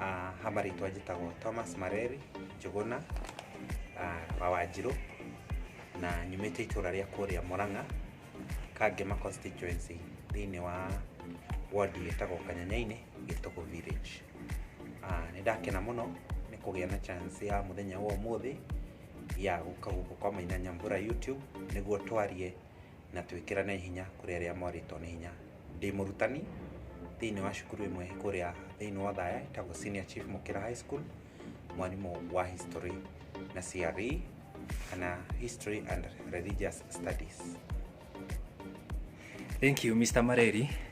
Ah, ha marĩtwa njĩtagwo thomas mareri njũgũna ah, wa wanjirũ na nyumĩte itũra rĩa kũrĩa mũrang'a kangĩma constituency thĩinĩ wa wodi ĩtagwo kanyanyainĩ gĩtũgũ village Ah, nĩ ndakena mũno nĩ kũgĩa na chance ya mũthenya wa ũmũthĩ ya gũka gũkũ kwa maina nyambura youtube nĩguo twarie na twĩkĩrane hinya kũrĩ arĩa mwarĩtwo nĩ hinya. Ndĩ mũrutani thĩinĩ wa cukuru ĩmwe kũrĩa thĩinĩ wa Othaya ĩtagwo Senior Chief Mũkĩra High School, mwarimũ wa history na CRE kana history and religious studies. Thank you Mr. Mareri.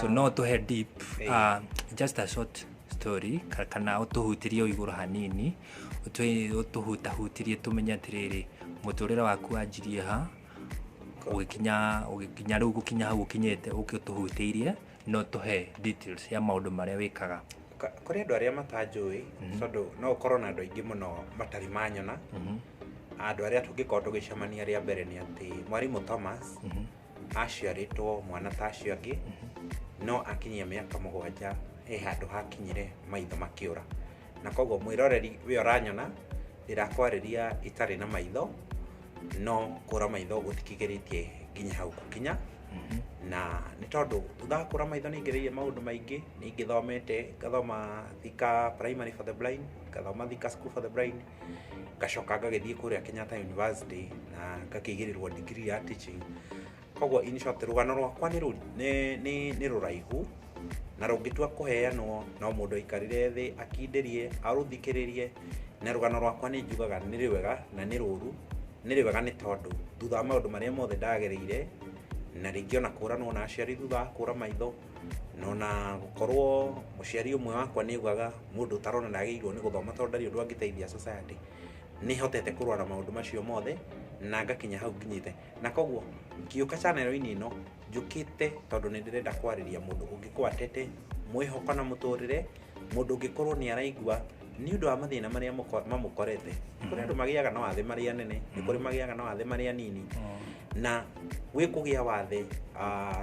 so no tũhe deep uh, just a short story ka- kana ũtũhutirie o igũrũ hanini ũtũ- ũtũhutahutirie tũmenye atĩrĩrĩ mũtũrĩre waku wanjirie ha ũgĩkinya ũgĩkinya rĩu gũkinya hau ũkinyĩte ũkĩ ũtũhutĩirie no tũhe details ya maũndũ marĩa wĩkaga Ka- kũrĩ andũ arĩa matanjũĩ tondũ no ũkorwo na andũ aingĩ mũno matarĩ manyona andũ arĩa tũngĩkorwo tũgĩcemania rĩa mbere nĩ atĩ mwarimũ thomas aciarĩtwo mwana ta acio angĩ no akinyia mĩaka mũgwanja he handũ hakinyire maitho makĩũra na koguo mwĩroreri we ũranyona ndirakwarĩria itarĩ na maitho no kũra maitho gũtikigĩrĩtie nginya hau gũkinya na nĩ tondũ thutha wa kũra maitho nĩ ingĩrĩirie maũndũ maingĩ nĩ ingĩthomete ngathoma thika primary for the blind ngathoma thika school for the blind ngacoka ngagĩthiĩ kũrĩa Kenyatta University na ngakĩigĩrĩrwo degree ya teaching koguo in short rũgano rwakwa nĩ rũ- nĩ- nĩ- nĩ rũraihu na rũngĩtua kũheanwo no mũndũ aikarire thĩ akindĩrie arũthikĩrĩrie na rũgano rwakwa nĩ njugaga nĩ rĩwega na nĩ rũru nĩ rĩwega nĩ tondũ thutha wa maũndũ marĩa mothe ndagereire na rĩngĩ ona kũranwo na aciari thutha wa kũra maitho no na gukorwo muciari umwe wakwa niguaga mundu utarona na agirwo ni guthoma tondu ndari undu angiteithia society ni hotete kurwa na maundu macio mothe na ngakinya hau nginyite na koguo ngiuka chanero-ini ino njukite tondu ni ndirenda kwariria mundu ungikwatete mwihoko na muturire mundu ungikorwo ni araigua ni undu wa mathina maria mamukorete kuri andu magiaga na wathe maria nene ni kuri magiaga na wathe maria nini na wikugia wathe uh,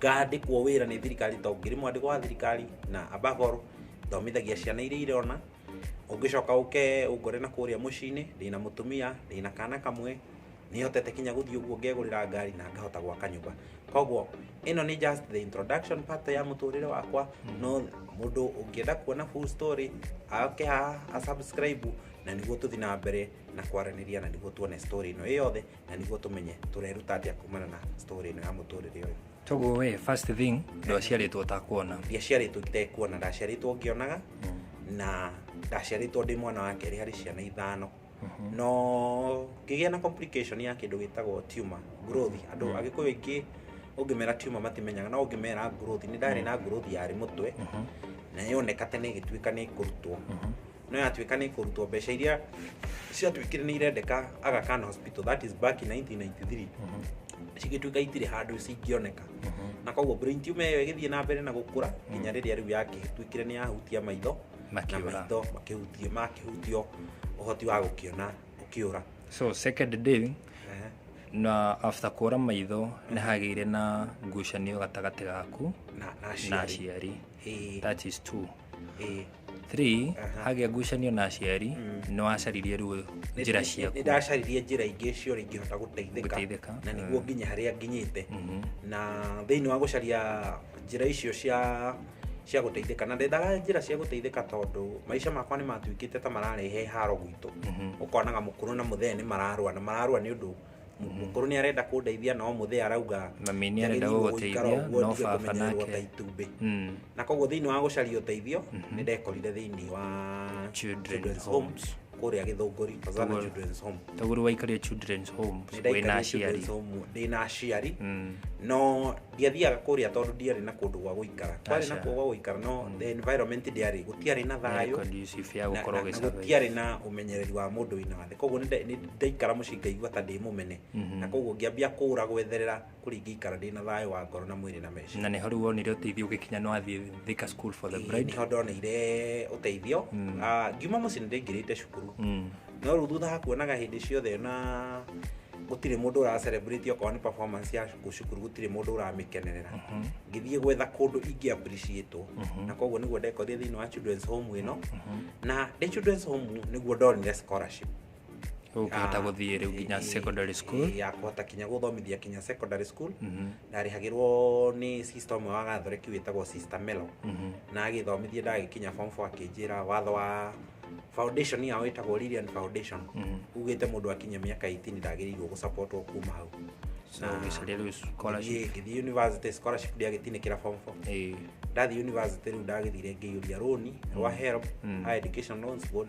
ngandĩkwo wĩra nĩ thirikari to ngĩrĩ mwandĩko wa thirikari na abagoro thomithagia ciana iria irona ũngĩcoka ũke ũngore na kũrĩa mũciĩ-inĩ ndĩna mũtumia ndĩna kana kamwe nĩhotete kinya gũthiĩ ũguo ngegũrĩra ngari na ngahota gwaka nyũmba koguo ĩno nĩ just the introduction part ya mũtũrĩre wakwa no mũndũ ũngĩenda kuona full story ake haha asubscribe na nĩguo tũthiĩ na mbere na kwaranĩria na nĩguo tuone story ĩno ĩ yothe na nĩguo tũmenye tũreruta atĩa kumana na story ĩno ya mũtũrĩre ũyũ toguo we first thing ndwaciarĩtwo ũtakuona ndiaciarĩtwo itekuona ndaciarĩtwo ngĩonaga na ndaciarĩtwo ndĩ mwana wa kerĩ harĩ ciana ithano no ngĩgĩa na complication ya kĩndũ gĩtagwo tumor growth andũ Mm. agĩkũyũ aingĩ ũngĩmera tumor matimenyaga no ũngĩmera growth nĩ ndarĩ na growth yarĩ mũtwe na yoneka tene ĩgĩtuĩka nĩ kũrutwo no yatuĩka nĩ kũrutwo mbeca iria ciatuĩkire nĩ irendeka Aga Khan hospital that is back in 1993 cigĩtuĩka itirĩ handũ cingĩoneka na koguo brain tumor ĩyo ĩgĩthiĩ na mbere na gũkũra nginya rĩrĩa rĩu yagĩtuĩkire nĩ yahutia maitho na Makĩũra. maitho makĩhutio makĩhutio ũhoti wa gũkĩona ũkĩũra so second day Ehe. na after kũra maitho nĩ hagĩire na ngucanio gatagatĩ gaku na na na aciari aciari Ĩĩ. that is two Eh. Three, Aha. hagĩa ngucanio na aciari Mm. nĩ wacaririe ruo njĩra Nĩ- ciaku nĩ ndacaririe njĩra ingĩ ciora ingĩhota gũteithĩka Gũteithĩka. na nĩguo Mm. nginya harĩa nginyĩte Mhm. na thĩinĩ wa gũcaria njĩra icio cia cia gũteithĩka na ndendaga njĩra cia gũteithĩka tondũ maica makwa nĩ matuĩkĩte ta mararehe haro gwitũ Mhm. ũkonaga mũkũrũ na mũthee nĩ mararũa na mararũa nĩ ũndũ mũkũrũ nä arenda kå ndeithia no må thä arauga na mĩ nĩ arenda njagĩrĩirwo gũgũikara gũgũteithia ũguo no ndige baba kũmenyererwo ta nake itumbĩ Mm. na koguo thä inä wa gå caria å teithio nä ndekorire thä inä wa Children's Children's Home, Homes. kå rä a gä thå ngå ri Koguo- taguru waikaria children's homes wĩna aciari ndä na aciari Mm. no ndiathiaga kũrĩa tondũ ndiarĩ na kũndũ gwa gũikara kwarĩ na Aca. kuo gwa gũikara no Mm. the environment ndiarĩ gũtiarĩ na thayũ conducive ya na- gũkorwo na- na ũgĩsurvive. gũtiarĩ na ũmenyereri wa mũndũ wĩna wathe koguo nĩ- nĩ ndaikara mũciĩ ngaigua ta ndĩ mũmene Mhm. na koguo ngĩambia kũra gwetherera kũrĩa ingĩikara ndĩ na thayũ wa ngoro na mwĩrĩ na meciria na nä ho rä u wonire å teithio å gä kinya nä wathiä thika school for the bride niho ndoneire ũteithio Mm. Ah, ngiuma mũciĩ nĩ ndĩngĩrĩte cukuru Mm. no rĩu thutha wa kuonaga hĩndĩ ciothe na gũtirĩ mũndũ ũra celebrate okorwo nĩ performance ya cukuru cukuru gũtirĩ mũndũ ũramĩkenerera ngĩthiĩ gwetha kũndũ ingĩ appreciate na koguo nĩguo ndekorire thĩinĩ wa children's home ĩno na ndĩ children's home nĩguo ndonire scholarship ũkĩhota Ah, gũthiĩ rĩu nginya eh, secondary school eh, ya kũhota kinya gũthomithia kinya secondary school ndarĩhagĩrwo nĩ sister ũmwe wa gathoreki wĩtagwo sister melo na agĩthomithia ndagĩkinya form 4 akĩnjĩra watho wa foundation yao ĩtagwo Lilian foundation ugĩte mũndũ akinye mĩaka 18 ndagĩrĩirwo gũsapotwo kuma hau so ũgĩcaria rĩu scholarship ngĩthiĩ university scholarship ndiagĩtinĩkĩra form 4 Eh, ndathiĩ university rĩu ndagĩthire ngĩiyũria rũni rwa help higher education loans board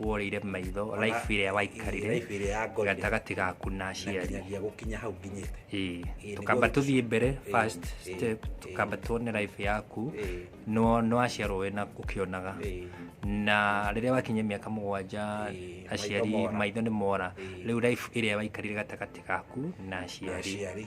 worĩire maitho Ona- life ĩrĩa waikarire Life ĩrĩa yangorire. gatagatĩ gaku na Na aciari nginyagia gũkinya hau nginyĩte Ĩĩ, Ĩĩ, tukamba nĩguo- tũthiĩ mbere Ĩĩ, first ĩĩ, step ĩĩ. tukamba tuone life yaku Ĩĩ. no no aciarwo wena ũkĩonaga Ĩĩ. na rĩrĩa wakinya mĩaka mũgwanja Ĩĩ, aciari maitho mora. maitho nĩ mora Ĩĩ. rĩu life ĩrĩa waikarire gatagatĩ gaku na aciari aciari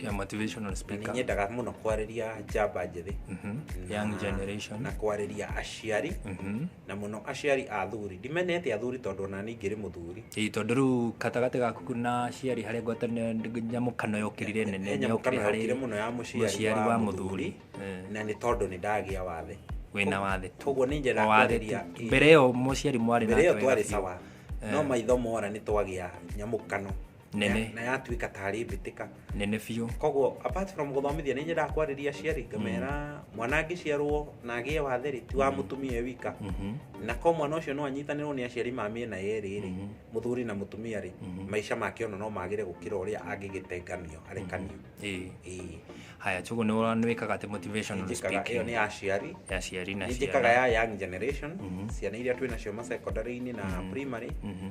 ya motivational na speaker ninyendaga muno kwareria njamba njithi Mhm. young generation na kwareria aciari Mhm. na muno aciari a thuri ndimenete athuri tondu ona ni ngiri muthuri Ĩĩ, tondũ rĩu gatagatĩ gaku na aciari harĩa ngwatanĩro nyamũkano yokĩrire nene Enya yokire mũkana yokire harĩ muno ya muciari mũciari wa muthuri Eh, na ni tondu ni ndagia wathe wĩna wathe tu. koguo ni njenda Wathe tu. kwareria mbere ĩyo mũciari mwarĩ mbere iyo nake twari wega biũ. sawa no maitho mora ni twagia nyamukano nene na yatuĩka tarĩ mbĩtĩka nene biũ koguo apart from gũthomithia nĩ nyendaga kwarĩria aciari ngamera mwana angĩciarwo na agĩe wathe rĩ ti wa mũtumia e wika Mhm. na ko mwana ũcio no anyitanĩrwo nĩ aciari ma mĩena yerĩ rĩ mũthuri na mũtumia rĩ maica make ona no magĩre gũkĩra ũrĩa angĩgĩtenganio arekanio Ĩĩ. Ĩĩ. haya njũgũ nĩ ũra- nĩ wĩkaga atĩ motivational njĩkaga ĩyo speaking nĩ ya aciari ya ciari na nĩ njĩkaga ciana ya young generation ciana iria twĩ nacio ma secondary-inĩ na primary Mhm.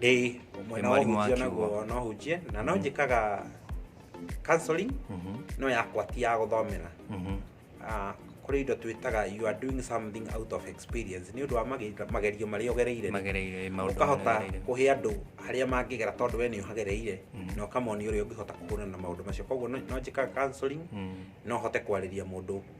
ĩĩ ũmwe no Mwarimũ ũhunjia akiuga. naguo no hunjie na no njĩkaga counseling no yakwa ti ya gũthomera Ah, kũrĩ indo twĩtaga you are doing something out of experience nĩ ũndũ wa mage- magerio marĩa ũgereire magereire maũndũ ũkahota magereire. kũhe andũ harĩa mangĩgera tondũ we nĩ ũhagereire na ũkamonia ũrĩa ũngĩhota kũhũrana na maũndũ macio koguo no no njĩkaga counseling Mm. no hote kwarĩria mũndũ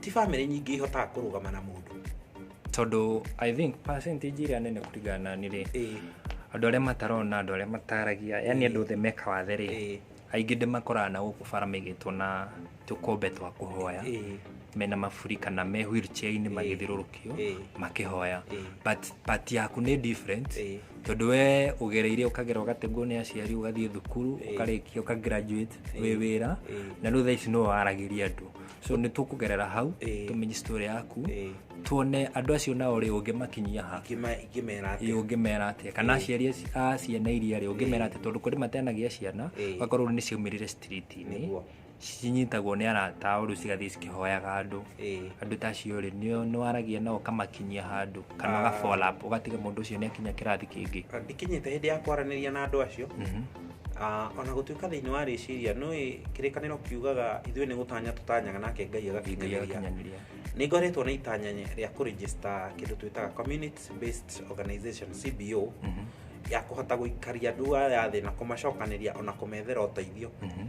ti bamĩrĩ nyingĩ ihotaga kũrũgama na mũndũ tondũ i think percentage ĩrĩa nene kũringana na niĩ rĩ Ĩĩ, andũ arĩa matarona andũ arĩa mataragia yani andũ othe meka wathe rĩ ĩĩ, aingĩ ndĩmakoraga na gũkũ bara maigĩtwo na tũkombe twa kũhoya ĩĩ. mena maburi kana me wheelchair-inĩ magĩthiũrũrũkĩte kĩo Ĩĩ. makĩhoya Ĩĩ. but part yaku nĩ different Ĩĩ. tondũ we ũgereire ũkagera ũgategwo nĩ aciari ũgathiĩ thukuru ũkarĩkia ũkagraduate wĩ wĩra Ĩĩ. na rĩu thaa ici nĩwe waragĩria andũ so nĩ tũkũgerera hau Ĩĩ. tũmenye story yaku Ĩĩ. tuone andũ acio nao rĩ ũngĩmakinyia ha Ingĩma- ingĩmera atĩa? ĩ ũngĩmera atĩa kana aciari aci- a ciana iria rĩ ũngĩmera atĩa tondũ kũrĩ matenagia ciana Ĩĩ. ũgakorwo nĩ ciaumĩrire street-inĩ Nĩguo. cinyitagwo nĩ arata ũrũ cigathiĩ cikĩhoyaga andũ Ĩĩ. andũ ta acio rĩ nĩo nĩwaragia nao ũkamakinyia handũ kana ũga follow up, ũgatiga mũndũ ũcio nĩ akinya kĩrathi kĩngĩ Na ndikinyĩte hĩndĩ ya kwaranĩria na andũ acio Mhm. Ah, ona gũtuĩka thĩinĩ wa rĩciria nĩ kĩrĩkanĩro kiugaga ithuĩ nĩ gũtanya tũtanyaga nake ngai Ngai agakinyanĩria agakinyanĩria. nĩ ngoretwo na itanya rĩa kũrĩgĩsta kĩndũ twĩtaga community based organization cbo Mhm. ya kũhota gũikaria andũ aya thĩ na kũmacokanĩria ona kũmethera ũteithio Mhm.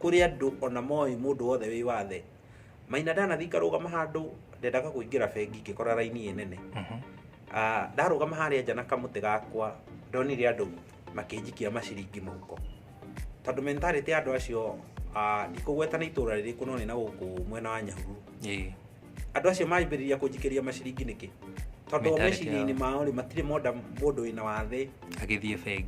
kũrĩ andũ ona moĩ mũndũ wothe wĩ wathe maina ndanathiĩ ngarũgama handũ ndendaga kũingĩra bengi ngĩkora raini ĩ nene Ah, ndarũgama harĩa nja na kamũtĩ gakwa ndonire andũ makĩnjikia maciringi mũhuko tondũ mentality ya andũ acio ah, ndikũgweta nĩ itũra rĩrĩkũ no nĩ na gũkũ mwena wa nyahururu Ĩĩ. andå acio mambä rä ria kå njikä ria maciringi nä kä tondå Mentality meciria-inä yao. mao rä matirä monda må ndå wä na wathä agĩthiĩ bengi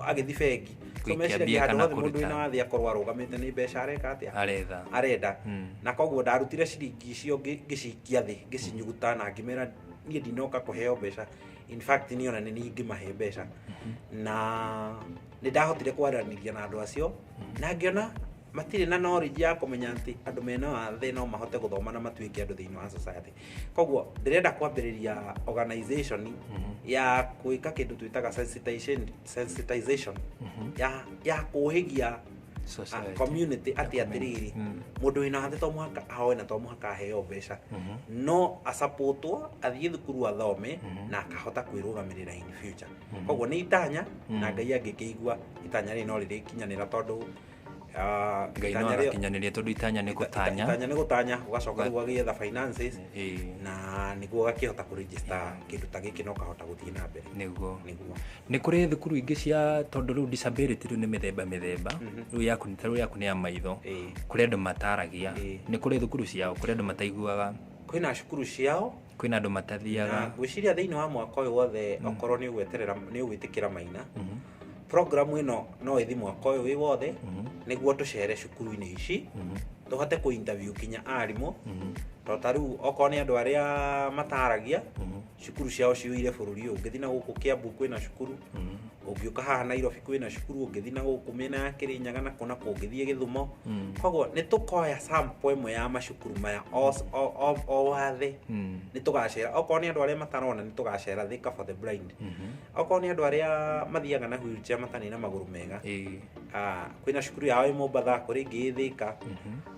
agä thi bengi So Gũikia meciragia mbia handũ kana hothe mũndũ kũruta. wĩna wathĩ akorwo arũgamĩte nĩ mbeca areka atĩa aretha arenda Mm. na koguo ndarutire ciringi icio ngĩ- ngĩcikia thĩ ngĩcinyuguta na ngĩmera niĩ ndinoka kũheo mbeca in fact niĩ ona nĩ niĩ ingĩmahe mbeca na nĩ ndahotire kwaranĩria na andũ acio na ngĩona matirĩ na knowledge ya kũmenya atĩ andũ mena wathe no mahote gũthoma na matuĩke andũ thĩinĩ wa society koguo ndĩrenda kwambĩrĩria organization mhm. ya gwĩka kĩndũ twĩtaga sensitization mhm. ya kũhĩgia ah, community atĩ atĩrĩrĩ mm. mũndũ wĩna wathe to mũhaka ahoe na to mũhaka aheo mbeca mhm. no asapotwo athiĩ thukuru athome na akahota kwĩrũgamĩrĩra in future koguo nĩ itanya na ngai angĩkĩigua itanya rĩrĩ no rĩrĩkinyanĩra tondũ Ah, ngai no itanya rĩo- agakinyanĩria tondũ itanya nĩ gũtanya itanya nĩ gũtanya ũgacoka rĩu ũgagĩetha finances Ĩĩ, na nĩguo ũgakĩhota kũrĩnjĩsta kĩndũ ta gĩkĩ na ũkahota gũthiĩ na mbere nĩguo nĩguo nĩ kũrĩ thukuru ingĩ cia tondũ rĩu disability rĩu nĩ mĩthemba mĩthemba rĩu yaku nĩ ta rĩu yaku nĩ ya maitho Ĩĩ. kũrĩ andũ mataragia Ĩĩ. nĩ kũrĩ thukuru ciao kũrĩ andũ mataiguaga kwĩna cukuru ciao kwĩna andũ matathiaga Na ngwĩciria thĩinĩ wa mwaka ũyũ wothe okorwo nĩ ũgweterera nĩ ũgwĩtĩkĩra maina Mhm, programu ĩno no ĩthi mwaka ũyũ wĩ wothe mhm, nĩguo tũcere cukuru-inĩ ici mhm, tũhote kũ interview kinya arimũ mhm, to ta rĩu okorwo nĩ andũ arĩa mataragia mhm, cukuru ciao ciũire bũrũri ũyũ ngĩthi na gũkũ kĩambu kwĩna cukuru mhm, ũngĩũka haha nairobi kwĩna cukuru ũngĩthi na gũkũ mĩena ya kĩrĩnyaga na kũna kũngĩthiĩ gĩthumo Mm. koguo nĩ tũkoya sample ĩmwe ya macukuru maya o- o- o- o wathe Mm. nĩ tũgacera okorwo nĩ andũ arĩa matarona nĩ tũgacera thika for the blind Mhm. okorwo nĩ andũ arĩa mathiaga na wheelchair matarĩ na magũrũ mega Ĩĩ. ah, kwĩna cukuru yao ĩ mombatha kũrĩ ĩngĩ ĩ thika Mhm.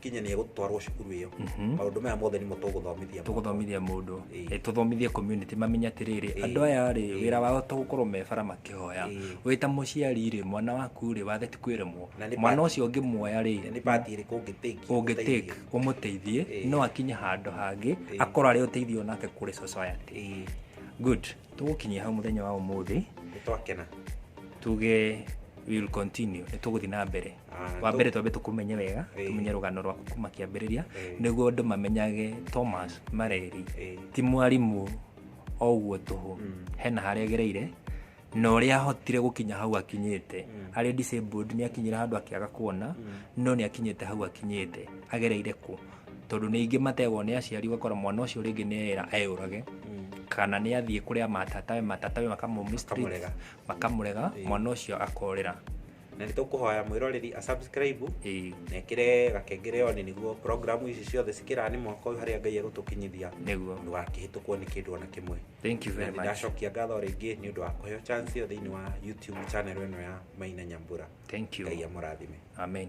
kinya nä egå twarwo cukuru ä yo maå ndå maya mothe nimo tå gå thomithia tũgũthomithia mũndũ Ĩĩ. Eh, tũthomithie community mamenye atĩrĩrĩ Ĩĩ. andũ aya rĩ Ĩĩ. wĩra wao to gũkorwo me bara makĩhoya Ĩĩ. wĩ ta mũciari rĩ mwana waku rĩ wathe ti kwĩremwo Na nĩ mwana part- ũcio ũngĩmuoya rĩ nä pati ä rä kå ngä ũngĩtake ũmũteithie Ĩĩ. no akinye handũ hangä Ĩĩ. akorwo arĩ ũteithio nake kũrĩ society good tũgũkinyia hau mũthenya wa ũmũthĩ nä twakena tuge we will continue nĩ tũgũthiĩ na mbere Ah, wa mbere twambe tũkũmenye wega Eh. tũmenye rũgano rwaku kuma kĩambĩrĩria Eh. nĩguo andũ mamenyage thomas mareri Eh. ti mwarimũ o ũguo tũhũ hena harĩa agereire na ũrĩa ahotire gũkinya hau akinyĩte arĩ disabled nĩ akinyire handũ akĩaga kuona no nĩ akinyĩte hau akinyĩte agereire kũ tondũ nĩ ingĩ mategwo nĩ aciari ũgakora mwana ũcio rĩngĩ nĩ era eyũrage kana nĩ athiĩ kũrĩa matatawe matatawe makamũmistreat, Makamũrega. makamũrega mwana ũcio akorĩra na nĩ tũkũhoya mwĩroreri a subscribe ĩĩ na ĩkĩre gakengere one nĩguo programu ici ciothe cikĩraga nĩ mwaka ũyũ harĩa ngai egũtũkinyithia nĩguo ndũgakĩhĩtũkwo nĩ kĩndũ ona kĩmwe thank you na very nĩ much ndacokia ngatho rĩngĩ nĩ ũndũ wa kũheo chance ĩyo thĩinĩ wa youtube channel ĩno ya maina nyambura thank you ngai amũrathime amen